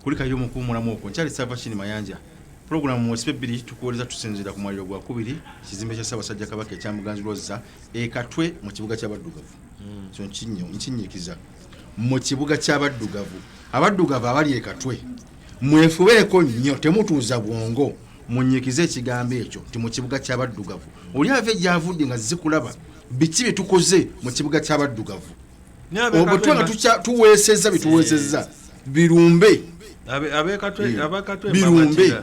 kulikayo mu kuwumulamu okwo nkyali sava kini mayanja pulogulaamu mu nsibe bbiri tukuwoleza tusinziira ku mwaliro gwa kubiri kizimbe kya ssaabasajja kabaka ekya muganzi lwozza ekatwe mu kibuga ky'abaddugavu hmm. so nkinyiikiza mu kibuga ky'abaddugavu abaddugavu abali ekatwe mwefubeeko nnyo temutuuza bwongo munyikize ekigambo ekyo nti mu kibuga ky'abaddugavu oli ava egyavudde nga zikulaba biki bye tukoze mu kibuga ky'abaddugavu obutwe nga tuweesezza bye tuweesezza birumbe birumbe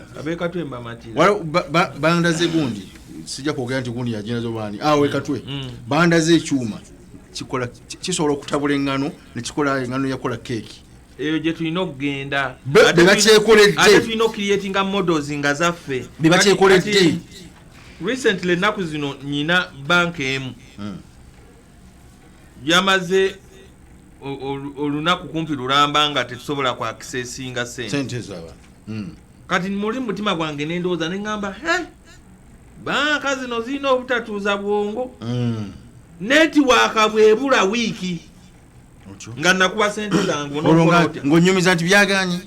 bandaze gundi sijja kwogera nti gundi yaginazo baani awe katwe mm, mm. bandaze ekyuma kisobola okutabula eŋŋano nekikola eŋŋano yakola keeki eyo gye tulina okugenda bebakyekoledde tulina okukiriyetinga models nga zaffe bebakyekoledde recently ennaku zino nyina banka emu hmm. yamaze olunaku kumpi lulamba nga tetusobola ku accessinga sente hmm. kati muli mumutima gwange nendowooza neŋamba banka zino zirina obutatuuza bwongo hmm. netiwaaka bwebula wiiki nga nakuwa sente zange ngonyumiza nti byaganye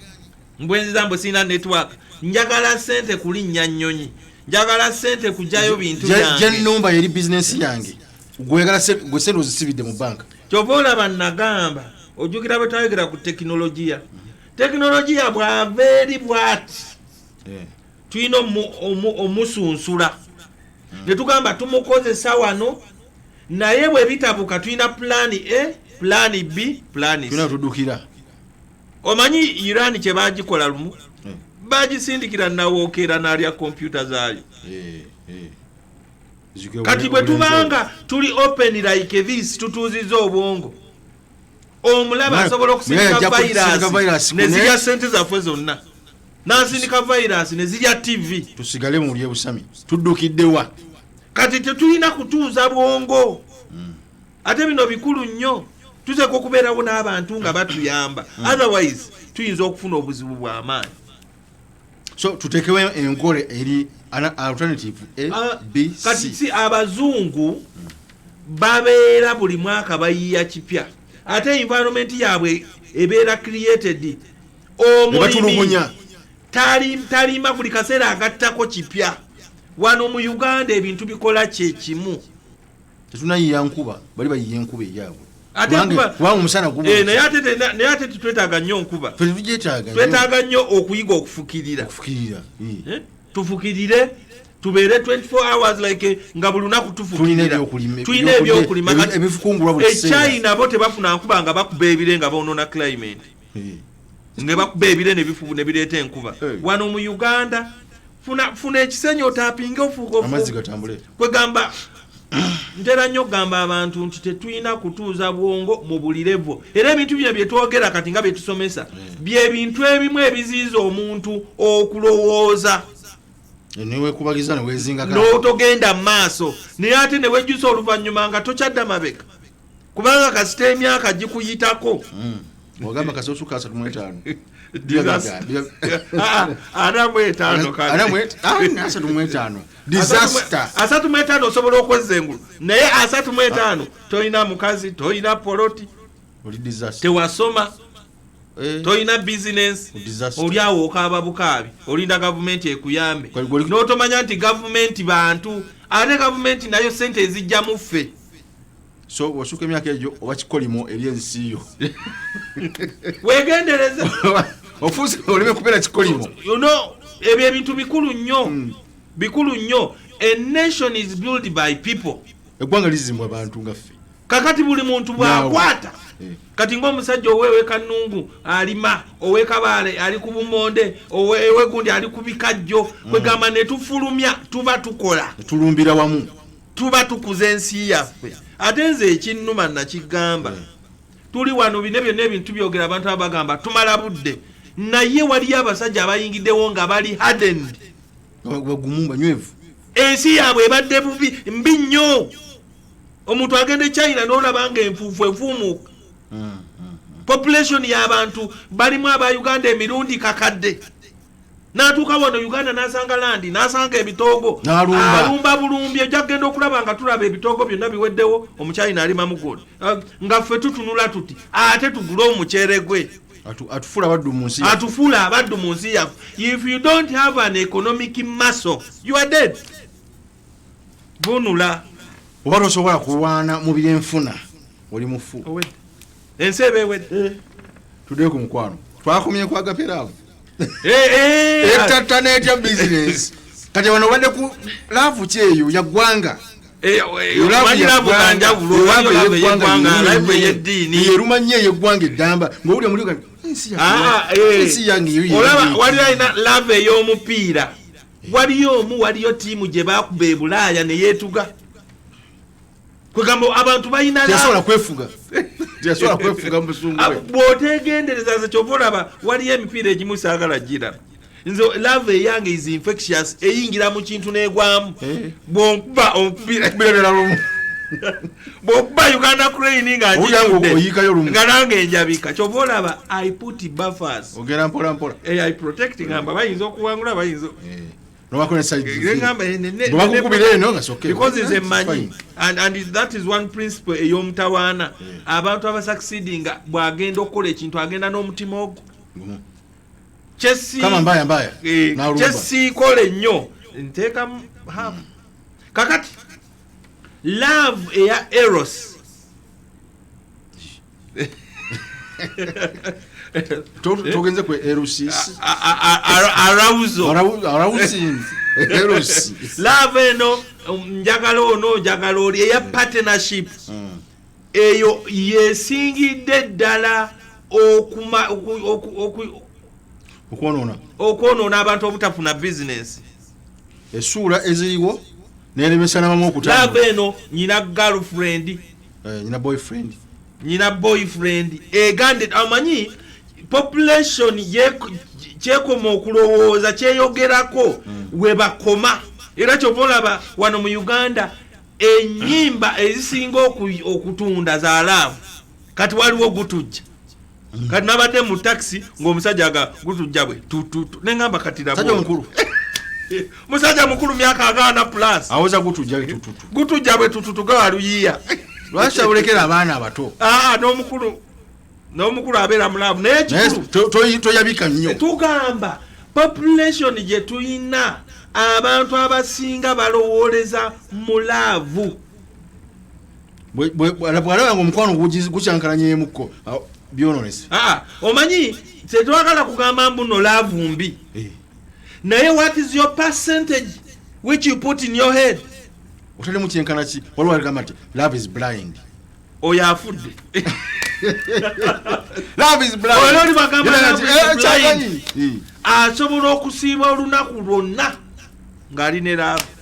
mbwenziza mbu sirina network njagala sente kulinnya nnyonyi njagala sente kujayo bintu byangenumba yeri bizinesi yange gweyagala gwe sente ozisibidde mu banka kyova olaba nagamba ojjukira bwe twayogera ku tekinologiya tekinologiya bwava eri bwati eh. tulina omusunsula hmm. netugamba tumukozesa wano naye bwe bitabuka tulina pulaani a pulaani b pulaani tudukira omanyi iran kye bagikola lumu hmm. bagisindikira nawokeera nalya kompyuta zaayo eh, eh. kati bwe tubanga tuli open like this tutuuziza obwongo omulaba asobola okusindika virus nezirya sente zaffe zonna n'asindika vayiraasi ne zirya ttivi tusigale mu lye busami tuddukidde wa kati tetulina kutuuza bwongo hmm. ate bino bikulu nnyo tuteeka okubeerawo n'abantu nga batuyamba hmm. otherwise tuyinza okufuna obuzibu bw'amaanyi so tutekewo enkola eri alternative abc ah, si abazungu babeera buli mwaka bayiya kipya ate environment yaabwe ebeera created omulimi talima buli kaseera agattako kipya wano mu uganda ebintu bikola kyekimu tetunayiya nkuba bali bayiye enkuba eyaabwe eh, naye ate tetwetaaga nnyo nkuba twetaaga nnyo okuyiga okufukirira eh, tufukirire tubeere 24 hours like eh, nga buli lunaku tufukirira tulina ebyokulima ekyayi nabo tebafuna nkuba nga bakuba ebire nga boonona climate nga bakuba ebire nebifubu nebireeta enkuba wano mu uganda funa ekisenyi otapinge ofuugaokwegamba ntera nnyo okugamba abantu nti tetulina kutuuza bwongo mu buli levo era ebintu bino byetwogera kati nga byetusomesa byebintu ebimu ebiziiza omuntu okulowooza newekubagiza newezinga n'otogenda mu maaso naye ate newejjusa oluvannyuma nga tokyadda mabega kubanga kasita emyaka gikuyitako hmm. ogamba kasita osuka asatu mu etaano asatu mwetaano osobola okwezza engulu naye asatu mwetaano ah. tolina mukazi tolina poloti tewasoma Eh. tolina bizinensi oli awo okaaba bukaabi olinda gavumenti ekuyambe n'otomanya nti gavumenti bantu ate gavumenti nayo sente ezijja muffe so osuka emyaka egyo oba kikolimo eri ensi yo wegendereza ofuuse oleme kubeera kikolimo ebyo ebintu bikulu nnyo hmm. bikulu nnyo a nation is built by people eggwanga lizimbwa abantu nga ffe kakati buli muntu bwakwata eh. kati ngaomusajja owewekanungu alima owekabaale ali ku bumonde owegundi ali ku bikajjo mm. kwegamba netufulumya tuba tukola tulumbira wamu tuba tukuza ensi yaffe ate nze ekinnuma nakigamba hmm. tuli wano bine byonna ebintu byogera abantu aba bagamba tumala budde naye waliyo abasajja abayingiddewo nga bali hardened bagumu banywevu ensi yaabwe ebadde bubi mbi nnyo omuntu agenda e china nolaba nga enfuufu efuumuuka hmm, hmm, population y'abantu balimu aba uganda emirundi kakadde natuuka wano uganda nasanga landi nasanga ebitoogo alumba bulumbi ojja kugenda okulaba nga tulaba ebitoogo byonna biweddewo omukyayina alima mugodi ah, nga ffe tutunula tuti ate tugule omukyere gwe atufuula abaddu mu nsi atufuula abaddu mu nsi yaffe if you don't have an economic muscle you are dead vunula oba tosobola kulwana mu byenfuna oli mufu ensi eba ewedde eh. tudee ku mukwano twakomye ku agaperaavu etatta netya bizinesi kati wano obadde ku laavu kyeyo yaggwanga erumanya eyeggwanga eddamba ngaowulira muli ah, ah, eh. waliyo alina laavu ey'omupiira waliyo omu waliyo tiimu gye bakuba ebulaaya neyeetuga kwegamba abantu balina teyasobola kwefuga teyasobola kwefuga musungu ah, bwotegendereza nze kyova olaba waliyo emipiira egimu saagala gira nze love eyange is infectious eyingira mu kintu negwamu eh. bwonkuba omupira bwokuba uganda crane nga nga nange enjabika kyova olaba i put buffers ogera mpolampola eh, i protect ngamba bayinza okuwangula bayinza eh. eyomutawaana abantu abasakisidi nga bwagenda okukola ekintu agenda n'omutima ogwo mm-hmm. kyesiikola eh, ennyo nteekamu hamu kakati love eya eros togenze ku erusis lava eno um, njagala ono njagala oli eya mm. partnership mm. eyo yesingidde ddala okwonoona abantu obutafuna bizinesi esuula eziriwo neremesa nabamu okutava eno nyina girlfriend eh, nyina boyfriend nyina boyfriend egande amanyi population kyekoma okulowooza kyeyogerako hmm. webakoma era kyova olaba wano mu uganda enyimba ezisinga okutunda zalaavu kati waliwo gutujja mm. kati nabadde mu taxi ngaomusajja aga gutujja bwe tututu nengamba katirabmukulu musajja mukulu myaka agaana plus awoza gutujja bwe tututu gutujja bwe tututu gawaluyiya lwaki abulekera abaana abato aa ah, nomukulu nomukulu abeera mulaavu naye kikulu toyabika nnyo eh, tugamba population gye tulina abantu abasinga balowooleza mulaavu bwalaba nga omukwano gukyankalanyeemukko byononese ah, omanyi tetwagala kugamba mbuno laavu mbi eh. naye what is your percentage which you put in your head otalimu kyenkana ki waliwo aligamba nti love is blind oyo afudde eh, asobola okusiiba olunaku lwonna ng'ali ne laavu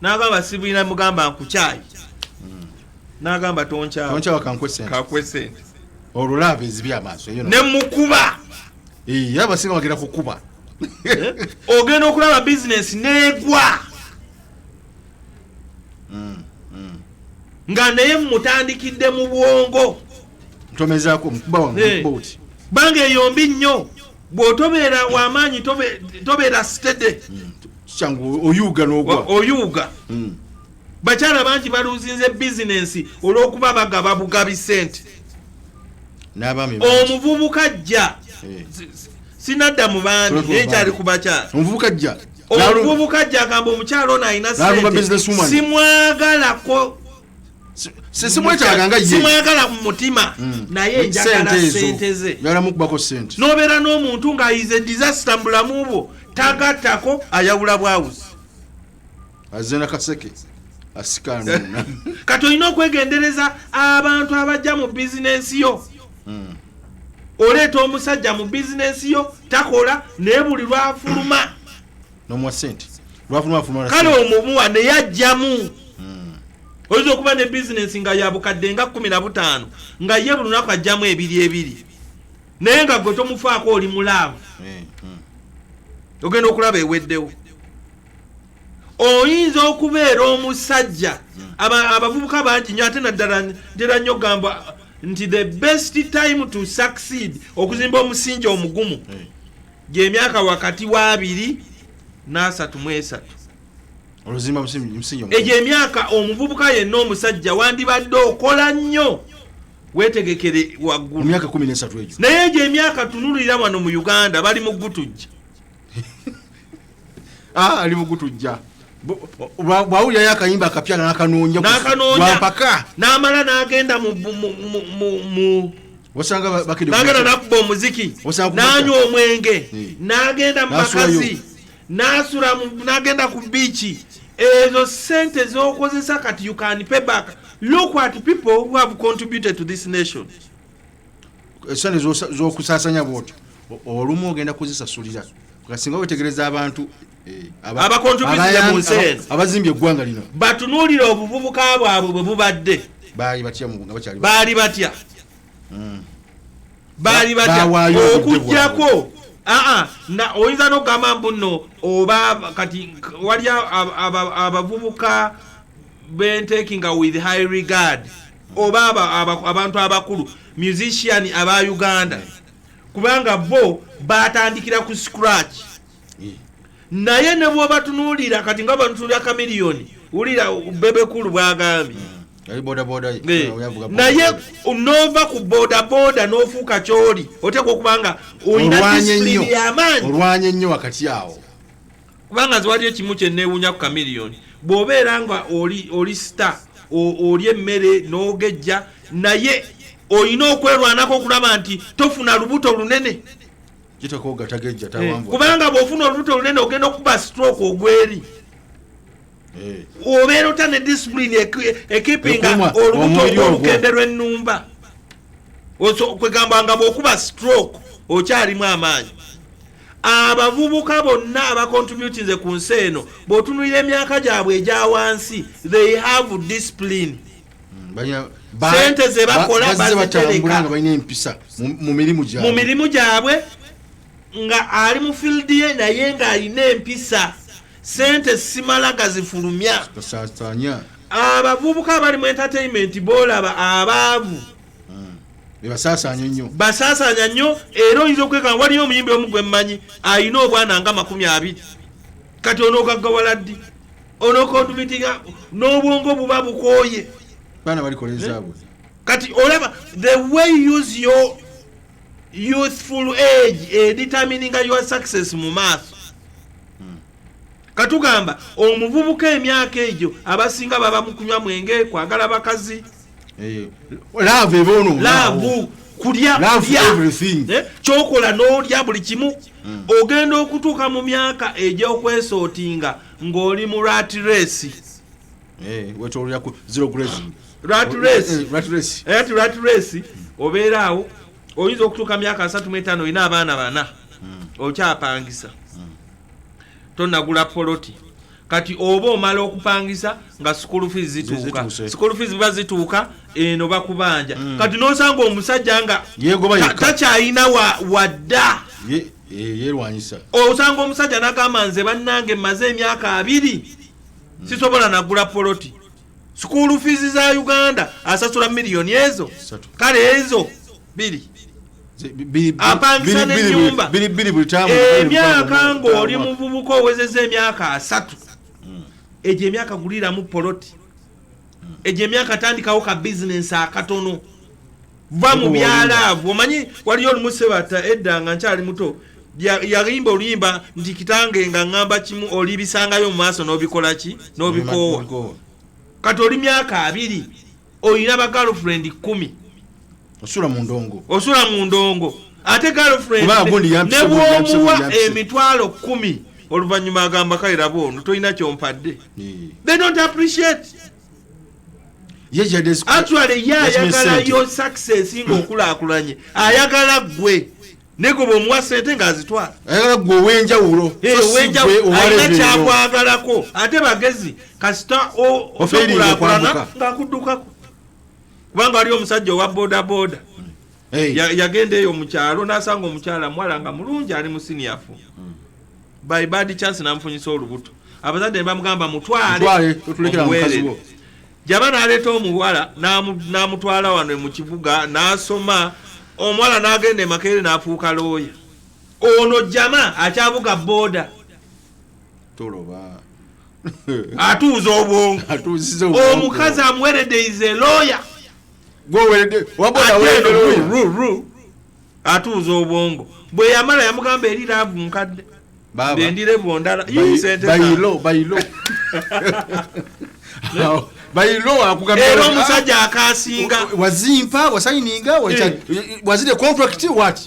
nava abasibwina mugamba nkukyayi hmm. nagamba tonkyawa kankwe sente olulaba ezibi amaaso ne mukuba abasinga bagenda kukuba eh? ogenda okulaba bizinesi negwa hmm, hmm. nga naye mutandikidde mu bwongo ntomezako mukuba wange eh. bange eyombi nnyo bwotobeera wamaanyi tobeera stede kyangu oyuuga nogwa oyuuga hmm. bakyala bangi baluzinze bizinensi olwokuba bagaba bugabi sente omuvubuka jja eh. sinadda mu baami naye kyali ku bakyala omuvubuka jja omuvubuka jja agamba omukyala ono alina sente simwagalako simwetaaga nga simwagala mu mutima mm. naye njagala sente ze njagala mukubako sente nobeera n'omuntu ng'ayize disaster mu bulamu bwo tagattako ayawula bwawuzi azena kaseke asikanuna kati olina okwegendereza abantu abajja mu bizinensi yo mm. oleeta omusajja mu bizinensi yo takola naye buli lwafuluma nomuwa sente kale omumuwa naye ajjamu hmm. oyinza okuba ne bizinesi nga yabukadde nga kumi na butaano nga ye buli lunaku ajjamu ebiri ebiri naye nga gwe tomufaako oli mulaavu hmm, hmm. ogenda okulaba eweddewo oyinza okubeera omusajja abavubuka bangi nyo ate naddala ntera nnyo gamba nti the best time to succeed okuzimba omusingi omugumu hey. gy'emyaka wakati w'abiri n'asatu mu esatu oluzimba musingi egyo emyaka omuvubuka yenna omusajja wandibadde okola nnyo wetegekere waggulu emyaka kumi n'esatu egyo naye egyo emyaka tunulira wano mu uganda bali mu gutujja ah, ali mugutujja bwawulirayo akayimba akapya nakanoonya nampaka namala nagenda mu osanga bagenda nakuba omuziki nanywa omwenge nagenda mumakazi nasula nagenda ku biiki ezo sente zokozesa kati you can pay back look at people who have contributed to this nation esente zokusasanya bwotyo olumu ogenda kuzisasulira kasinga wetegereza abantu eh, abakontributire mu nsi eno abazimbye eggwanga lino batunuulira obuvubuka bwabwe bwe bubadde baali batya baali batya hmm. baali batya okujjako aa na oyinza nokugamba mbu nno oba kati wali abavubuka bentekinga with high regard oba abantu abakulu musician aba uganda kubanga bo batandikira ku scratch naye ne bwobatunuulira kati nga batunuulira kamiliyoni wulira bebekulu bwagambye naye nova ku bodaboda nofuuka kyoli oteekwa okubanga olina disipulini yamaanyi olwanye nnyo wakati awo kubanga nze waliyo kimu kyenneewuunya ku kamiliyoni bw'obeera nga oli oli sita oli emmere n'ogejja naye olina okwerwanako okulaba nti tofuna lubuto lunene eh, kubanga bw'ofuna olubuto lunene ogenda okuba stroke ogweri eh. obeera ota ne disipulini ekipinga olubuto olukende lw'ennumba kwegamba nga bwokuba stroke okyalimu amaanyi abavubuka bonna abacontributinze ku nsi eno bwotunulira emyaka gyabwe egya wansi they have discipline hmm, sente zebakola bazitereka mu mirimu gyabwe nga ali mu field ye naye ng'alina empisa sente simala gazifulumya abavubuka abali mu entertainment bolaba abaavu hmm. basasanya nnyo basasanya nnyo era oyinza okwekanga waliyo omuyimbi omu gwe mmanyi alina obwana nga makumi abiri kati onogaggawala ddi onokontumitiga n'obwongo buba bukooye baana balikola ezaabwe eh? kati olaba the way you use your youthful age edetermininga your success mu maaso hmm. katugamba omuvubuka emyaka egyo abasinga baba mukunywa mwenge kwagala bakazi eh, laavu kulya eh, kyokola n'olya buli kimu hmm. ogenda okutuuka mu myaka egy'okwesootinga ng'oli mu rat race eh, rat race obeera awo oyinza okutuuka myaka asatu mu etaano olina abaana bana hmm. okyapangisa hmm. tonagula poloti kati oba omala okupangisa nga school fees zituuka school fees biba zituuka eno bakubanja mm. kati nosanga omusajja nga takyalina wadda yerwanyisa osanga omusajja nagamba nze bannange maze emyaka abiri mm. sisobola nagula poloti Sukulu fizi za Uganda asasula milioni ezo kale ezo biri apangisa nenyumba emyaka ngaoli muvubuka owezeza emyaka asatu hmm. egyo emyaka guliramu poloti hmm. egyo emyaka tandikawo ka bizinensi akatono va mu byalaavu omanyi waliyo olumu sebata edda nga nkyali muto yalimba oluyimba nti kitange nga ŋŋamba kimu olibisangayo mu maaso n'obikola ki n'obikoowa kati oli myaka abiri olina ba girlfriend kumi osula mu ndongo osula mu ndongo ate girlfriend ne bwomuwa emitwalo kumi oluvannyuma agamba kale laba ono tolina kyompadde they don't appreciate actually ye ayagalayo success nga okulakulanye ayagala gwe nego bwomuwa sente ngaazitwala ayagala gwe owenjawulo alina kyakwagalako ate bagezi kasita okulakulana ngaakuddukako kubanga waliyo omusajja owa bodaboda yagenda eyo mukyalo nasanga omukyala muwala nga mulungi ali musiniyafu hmm. by bad chance namufunyisa olubuto abazadde ne bamugamba mutwale omuweerere jaba naleeta omuwala namutwala wano mu kibuga nasoma omuwala nagenda emakeere nafuuka looya ono jama akyavuga boda toloba atuuza obwongo omukazi amuweredde ize looya gweweredde waboda weredde looya atuuza obwongo bwe yamala yamugamba eri laavu nkadde bendirevu ndala era omusajja akasinga wazimpa wasayininga eh. wazire contract wat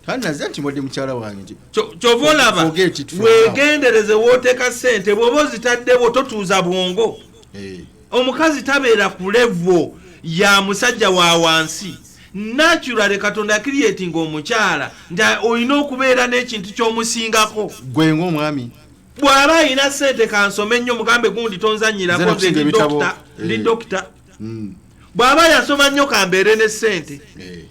tanaze nti mwadde mukyala wange nti kyova olaba wegendereze woteeka sente bwoba ozitaddewo totuuza bwongo eh. omukazi tabeera ku levo ya musajja wa wansi naturally katonda akiriyeti nga omukyala nti olina okubeera n'ekintu ky'omusingako gwe ngaomwami bw'aba alina sente kansome nnyo mugambe gundi tonzanyirako nze ndi dokita ndi eh. dokita hmm. bw'aba yasoma nnyo kambeere ne sente eh.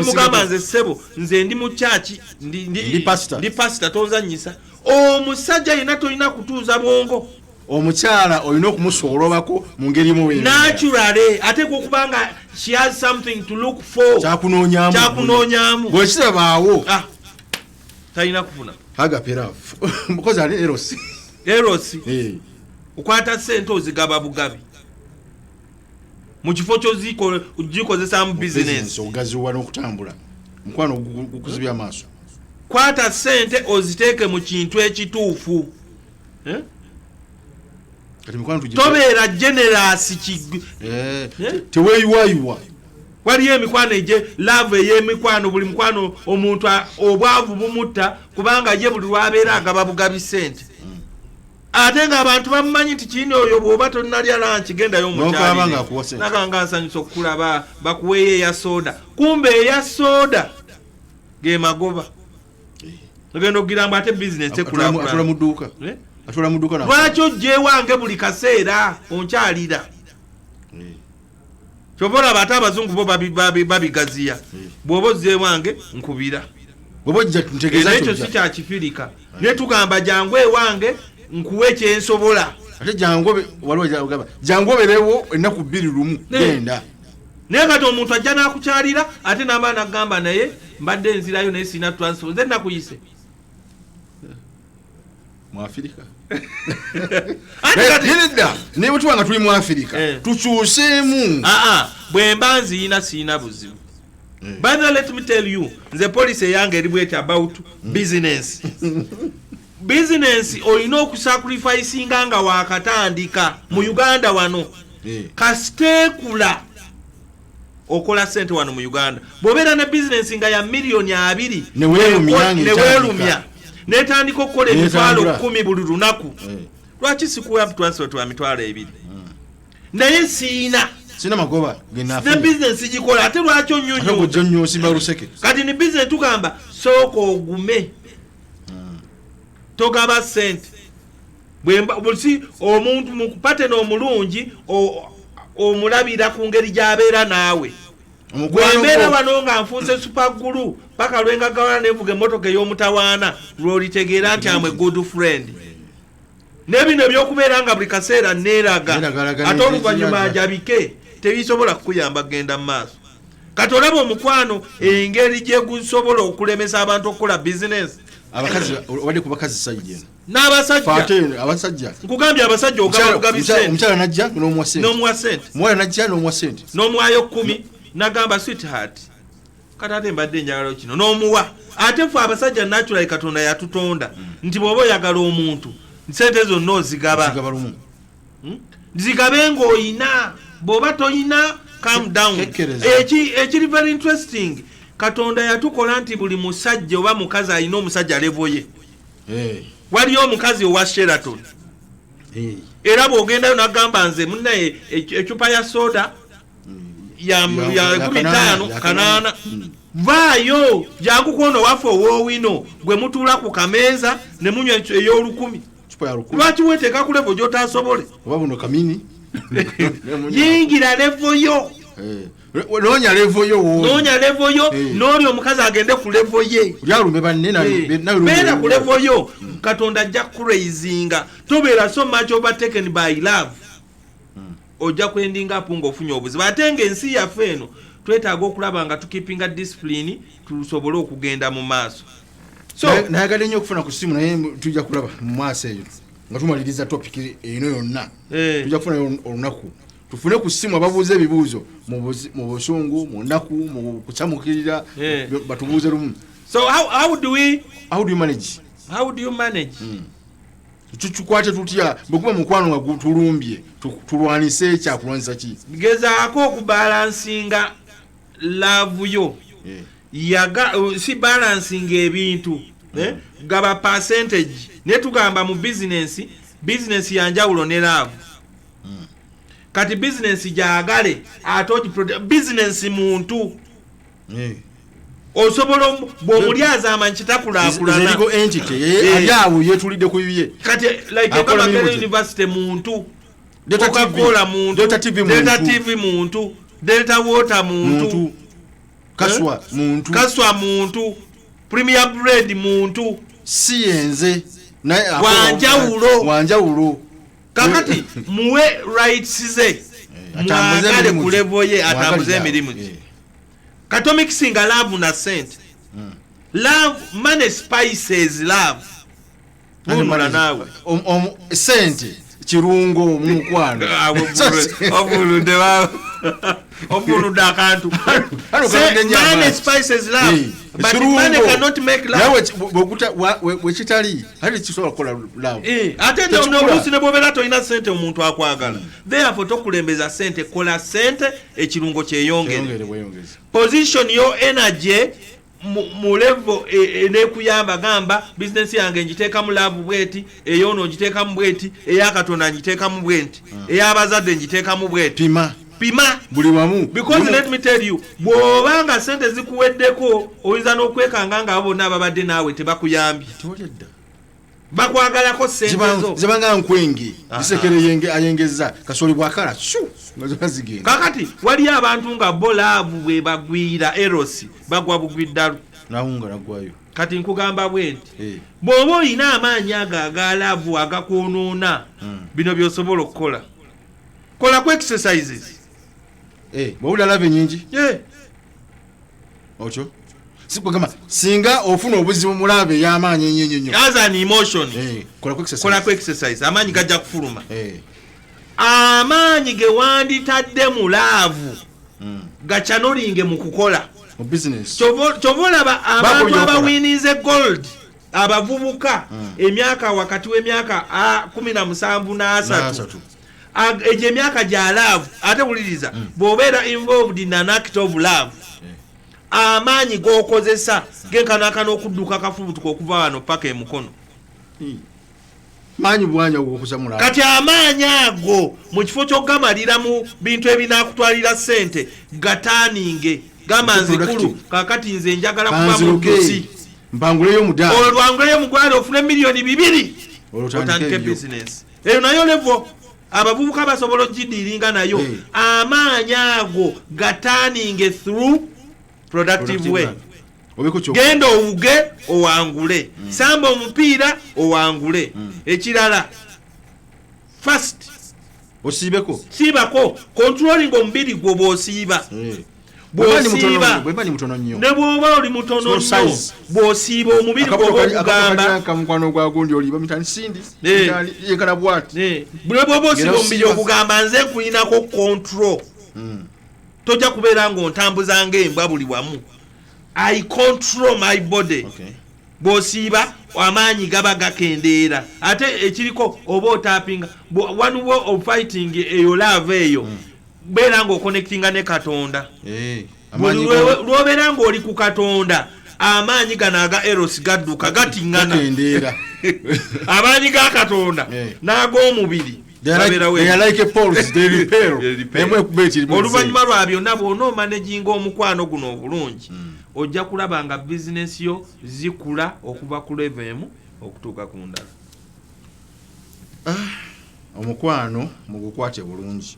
mugamba nze ssebo nze ndi mukyaki ndi pasita tonzanyisa omusajja yena tolina kutuuza bwongo omukyala olina okumusoolobako mu ngeri munaturale ateeka okuba nga she has something to look for kyakunoonyamu bwekirabaawo ah, talina kufuna hagaperafu mukozi ali erosi erosi eh. okwata sente ozigaba bugabi mukifo kyogikozesaamu bizinesi ogaziwa nokutambula mukwano gukuzibya amaaso kwata sente oziteeke mu kintu ekituufu eh? tobeera generasi eh, eh? teweyiwayiwa waliyo emikwano egye laavu ey'emikwano buli mukwano omuntu obwavu bumutta kubanga ye buli lwabeera agaba bugabi sente ate nga abantu bamumanyi nti kindi oyo bwoba tonalya lanki gendayo omukyalnaganga nsanyusa okukulaba bakuweeyo eya soda kumbe eya soda gemagoba ogenda okugira mbu ate bizinesi ekulaatula muduuka eh? lwaki ojjewange buli kaseera onkyalira kyova olaba ate abazungu bo babigaziya hmm. bwoba ozze ewange nkubira ekyo si kyakifirika naye tugamba jangu ewange nkuwa ekyensobola ate jangu oberewo ennaku bbiri lumu genda naye kati omuntu ajja nakukyalira ate naba nagamba naye mbadde nzirayo naye sirina transport nze nakuyise mwafirika nedda naye bwetuba nga tuli mwafirika eh. tukyuseemu ah, ah. bwemba nziyina siyina buzibu eh. by the let me tell you nze policy eyange eri bweti about mm. business business olina okusacrificinga nga wakatandika mu mm. uganda wano eh. kasiteekula okola sente wano mu uganda bwobeera ne bizinensi nga ya miliyoni abiri newelumya netandika okukola emitwalo kumi buli lunaku eh. lwaki sikuwa transport wa mitwalo ebiri hmm. naye siina sina magoba ne bizinensi gikola ate lwaki onyonyooseke kati ni bizinensi tugamba sooka ogume hmm. togaba sente bwembusi omuntu mukupatena omulungi omulabira ku ngeri gyabeera naawe gwembeera wano nga nfunse supagulu paka lwengagawana nenvuga emotoka ey'omutawaana lwolitegeera nti amwe good friend nebino ebyokubeera nga buli kaseera neeraga ate oluvannyuma ajabike tebisobola kukuyamba kugenda mu maaso kati olaba omukwano engeri gyegusobola okulemesa abantu okukola bizinesi abakazi wali kubakazi saidi eno n'abasajja nkugambye abasajja omukyala najja n'omuwa sente omuwala najja n'omuwa sente n'omuwayo kkumi nagamba sweetheart kati ate mbadde enjagalo kino n'omuwa ate fe abasajja naturali katonda yatutonda mm. nti bw'oba oyagala omuntu sente zonna ozigaba hmm? zigabe ng'oyina bw'oba toyina calm down ekiri very interesting katonda yatukola nti buli musajja oba mukazi alina omusajja levo ye eh. waliyo omukazi owa sheraton eh. era bwogendayo nagamba nze munaye ecupa ya soda hmm. ya nkumi taano kanaana hmm. vaayo jangu kwono waffe owowino gwe mutuula ku kameeza ne munywa ey'olukumi lwaki weteeka ku levo gyotasobole yingira levo yo eh. noonya levo yo noonya levo yo eh. n'oli omukazi agende ku levo ye lyalume banne eh. beera ku levo yo hmm. katonda ajja kuraizinga tobeera so much overtaken by love hmm. ojja kwendinga apu nga ofunye obuzibu ate nga ensi yaffe eno twetaaga okulaba nga tukipinga disipulini tusobole okugenda mu maaso nayagala nnyo okufuna ku simu naye tujja kulaba mu maaso eyo nga tumaliriza topiki eno yonna eh. tujja kufuna olunaku tufune ku simu ababuuza ebibuuzo mu busungu mu nnaku mu kucamukirira eh. batubuuze lumu so how, how do we how do you manage how do you manage mm. tukikwate tutya bwekuba mukwano nga gutulumbye tulwanise ekyakulwanyisa ki gezaako okubalansinga laavu yo eh. yaga uh, si balansinga ebintu eh? hmm. gaba percentage naye tugamba mu bizinensi bizinensi yanjawulo ne laavu mm. kati bizinensi gyagale ate ogiprote bizinensi muntu mm. osobola bwomulyazaama nkitakulakulanaawo eh, yetulidde ku bibye kati like ebamakere university muntu okakola muntudelta tv muntu delta water muntu kaswa eh? muntu kaswa muntu premier bread muntu si yenze wanjawulo wanjawulo kakati muwe rights ze eh, mwagale ku level ye atambuze emirimu gye eh. katomikisinga love na sente hmm. love money spices love nunula naawe sente kirungo omukwano obuludde obuludde akantu money spices love hmm. wekitali ate kisobola kukola eh, ate nobusi nebwobeera tolina sente omuntu akwagala therefo tokulembeza sente kola sente ekirungo kyeyongere position yo energy mu levo e, enekuyamba gamba bizinesi yange ngiteekamu laavu bweti eyoono ngiteekamu bweti eyakatonda ngiteekamu bwenti ah. eyabazadde ngiteekamu bweti pima buli wamu because let me tell you bwoba nga sente zikuweddeko oyinza n'okwekanga nga abo bonna ababadde naawe tebakuyambye bakwagalako sentezobanga nkwenge isekere ayengeza kasoli bwakala zigenda kakati waliyo abantu nga bo laavu bwe bagwira erosi bagwa bugwiddalu nawunga nagwayo kati nkugamba bwe nti eh. bw'oba olina amaanyi ago aga laavu agakwonoona hmm. bino by'osobola okukola kola ku exercises eh bwawula love nyingi eh ocho sikugamba singa ofuna obuzibu mulabe yamaanyi ennyo nnyo nnyo as an emotion eh kola ku exercise kola ku exercise amaanyi gajja kufuluma eh amaanyi ge wanditadde mu laavu mm. gacanolinge mu kukola mu business kyova olaba abantu abawininze gold abavubuka mm. emyaka wakati w'emyaka kumi na musanvu n'asatu egyo emyaka gya laavu ate wuliriza mm. bw'obeera involved in an act of love eh. amaanyi g'okozesa genkanaakana okudduka akafubutuka okuva wano paka emukono mm. maanyi bwanya okukuza mulala kati amaanyi ago mu kifo ky'okugamalira mu bintu ebinaakutwalira ssente gataaninge gamba nzikulu kakati nze njagala kuba mudusi mpanguleyo omudaala olwo lwanguleyo omugwala ofune miliyoni bibiri otandike bizinesi eyo nayo levo abavubuka basobola ogidiiringa nayo amaanyi ago gataaninge through productive way genda owuge owangule mm. samba omupiira owangule mm. ekirala first osiibeko siibako controlling omubiri gwo bwosiiba eh. bwosiiba ne bwoba oli mutono nyo bwosiiba omubiri gwobwobaogambane bwoba osiiba omubiri ogugamba nze nkulinako control mm. tojja kubeera ng'ontambuza ng'embwa buli wamu i control my body okay. bw'osiiba amaanyi gaba gakendeera ate ekiriko oba otapinga one way of fighting eyo laava eyo mm. beera ng'okonectinga ne katonda hey. Eh. lwobeera ngaoli ku katonda amaanyi gano aga eros gadduka gatingana amaanyi ga katonda eh. n'ag'omubiri oluvannyuma lwa byonna bw'ona omanaginga omukwano guno obulungi hmm. ojja kulaba nga bizinesi yo zikula okuva ku leva emu okutuuka ku ndala ah, omukwano mugukwate bulungi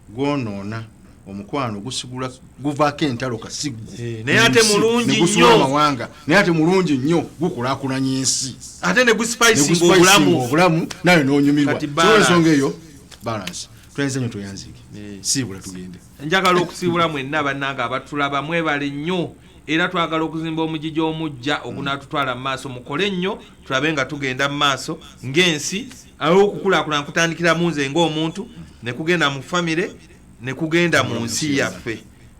gwonoona omukwano gusigula guvaako entalo kasiggu eh, naye ate mulungi nnyo amawanga naye ate mulungi nnyo gukulakulanya ensi ate ne gusipayisinga obulamu obulamu nawe nonyumirwa ensonga eyo balansi twenze nyo tweyanzike eh. siibula tugende njagala okusiibula mwenna bannange abatulaba mwebale nnyo era twagala okuzimba omugigi omujja ogunaatutwala mu maaso mukole nnyo tulabe nga tugenda mu maaso ng'ensi awo okukulaakulana kutandikira mu nze ng'omuntu ne kugenda mu famire ne kugenda mu nsi yaffe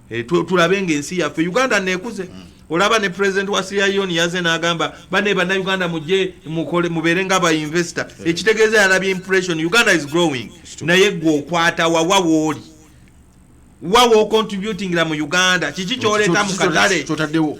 eh, tulabe ng'ensi yaffe uganda neekuze mm. olaba ne president wa Sierra Leone yaze nagamba bane bana Uganda muje mukole mubere nga ba investor yeah. ekitegeze yalabi impression Uganda is growing naye gwo okwata wa wa woli wa wo contributing la mu Uganda kiki kyoleta mu katale totadewo